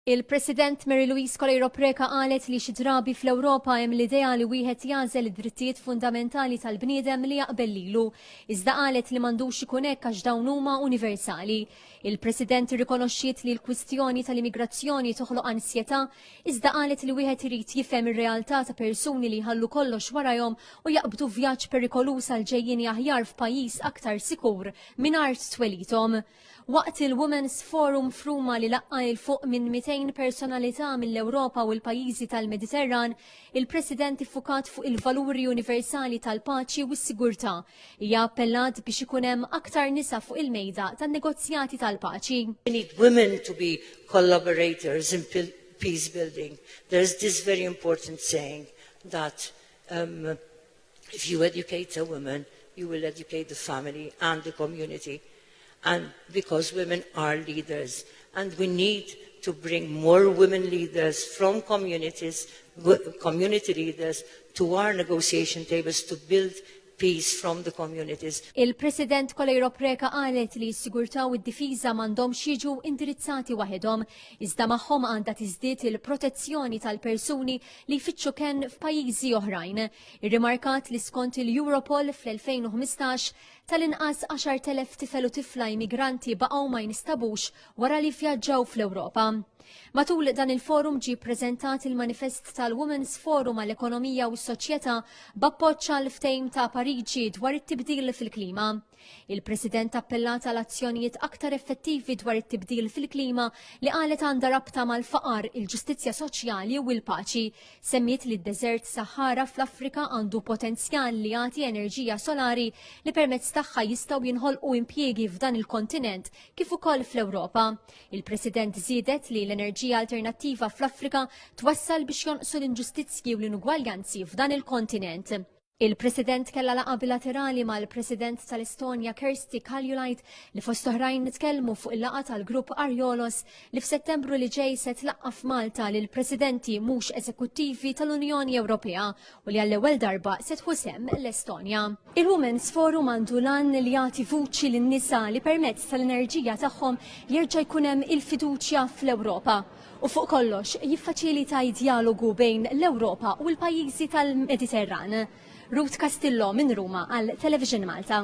Il-President Mary Louise Coleiro Preca qalet li xi drabi fl-Ewropa hemm l-idea li wieħed jagħżel id-drittijiet fundamentali tal-bniedem li jaqbel lilu, iżda qalet li m'għandux ikun hekk għax dawn huma universali. Il-President irrikonoxxiet li l-kwistjoni tal-immigrazzjoni toħloq ansjetà, iżda qalet li wieħed irid jifhem ir-realtà ta' persuni li jħallu kollox warajhom u jaqbdu vjaġġ perikoluż għal ġejjieni aħjar f'pajjiż aktar sikur minn art twelidhom. Waqt il-Women's Forum f'Ruma li laqqa' 'il fuq minn 200 personalità mill-Ewropa u l-pajjiżi tal-Mediterran, il-President iffukat fuq il-valuri universali tal-paċi u s-sigurtà. Hija appellat biex ikun hemm aktar nisa fuq il-mejda tan-negozjati tal-paċi. We need women to be collaborators in peace building. There is this very important saying that If you educate a woman, you will educate the family and the community and because women are leaders and we need to bring more women leaders from communities, community leaders to our negotiation tables to build peace from the communities. Il-President Kolejro Preka qalet li s-sigurtà u d-difiża m'għandhom jiġu indirizzati waħedhom, iżda magħhom għandha tiżdied il-protezzjoni tal-persuni li jfittxu kenn f'pajjiżi oħrajn. Irrimarkat li skont il-Europol fl-2015 tal-inqas 10,000 tifel u tifla immigranti baqgħu ma jinstabux wara li vjaġġaw fl-Ewropa. Matul dan il-forum ġie ppreżentat il-manifest tal-Women's Forum għall-Ekonomija u s-Soċjetà b'appoġġ għal ftehim ta' Pariġi dwar it-tibdil fil-klima. Il-President appellat għal azzjonijiet aktar effettivi dwar it-tibdil fil-klima li qalet għandha rabta mal-faqar, il-ġustizzja soċjali u l-paċi. Semmiet li d-deżert Sahara fl-Afrika għandu potenzjal li jagħti enerġija solari li permezz tagħha jistgħu jinħolqu impjiegi f'dan il-kontinent kif ukoll fl-Ewropa. Il-President żiedet li l-enerġija alternattiva fl-Afrika twassal biex jonqsu l-inġustizzji u l-inugwaljanzi f'dan il-kontinent. Il-President kellha laqgħa bilaterali mal-President tal-Estonja Kersti Kaljulaid li fost oħrajn nitkellmu fuq il-laqgħa tal-grupp Arjolos li f'Settembru li ġej se tlaqqa' f'Malta lil presidenti mhux eżekuttivi tal-Unjoni Ewropea u li għall-ewwel darba se tħusem l-Estonja. Il-Women's Forum għandu lan li jagħti vuċi lin-nisa li permezz tal-enerġija tagħhom jerġa' jkun hemm il-fiduċja fl-Ewropa. u fuq kollox jiffaċilita d-djalogu bejn l-Ewropa u l-pajjiżi tal-Mediterran. Ruth Castillo minn Ruma għal Television Malta.